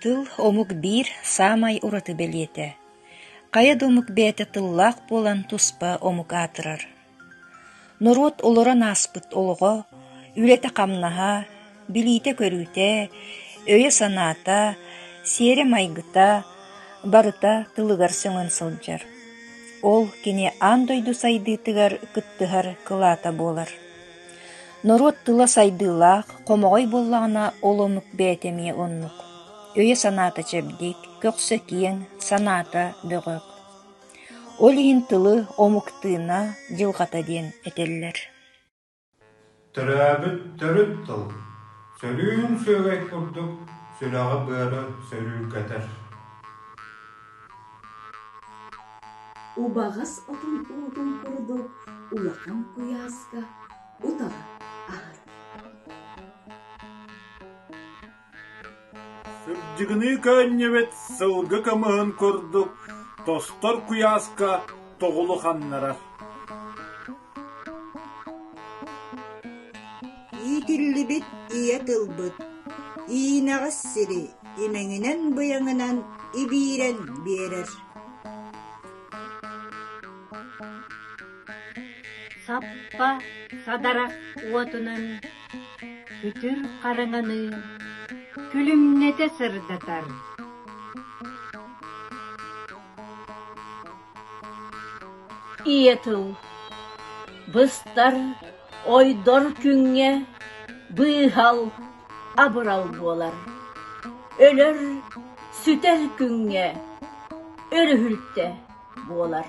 Тыл омук биир саамай ураты бэлиэтэ, хайа да омук бэйэтэ тыллаах буолан туспа омук аатырар. Норуот олорон ааспыт олоҕо, үлэтэ-хамнаһа, билиитэ-көрүүтэ, өйө-санаата, сиэрэ-майгыта барыта тылыгар сөҥөн сылдьар. Ол кини аан дойду сайдыытыгар кыттыһар кылаата буолар. Норуот тыла сайдыылаах, хомоҕой буоллаҕына, ол оннук бэйэтэ эмиэ оннук. Өйө-санаата чэбдик, көхсө киэҥ, санаата бөҕөх. Ол иһин тылы омуктыына, дьылҕата диэн этэллэр Төрөөбүт төрүт тыл сөрүүн сүөгэй курдук сүрэҕи-быары сөрүүргэтэр Убаҕас отун уутун курдук улахан куйааска утаҕы аһар. Сырдьыгыныы көөнньөбүт сылгы кымыһын курдук тостор куйааска тоҕулу ханнарар. Иитиллибит ийэ тылбыт иинэҕис сири имэҥинэн-быйаҥынан ибиирэн биэрэр Саппа садарах уотунан сүтүр хараҥаныы күлүмнэтэ сырдатар Ийэтин быстар ойдор күҥҥэ быыһал абырал буолар, өлөр сүтэр күҥҥэ өрүһүлтэ буолар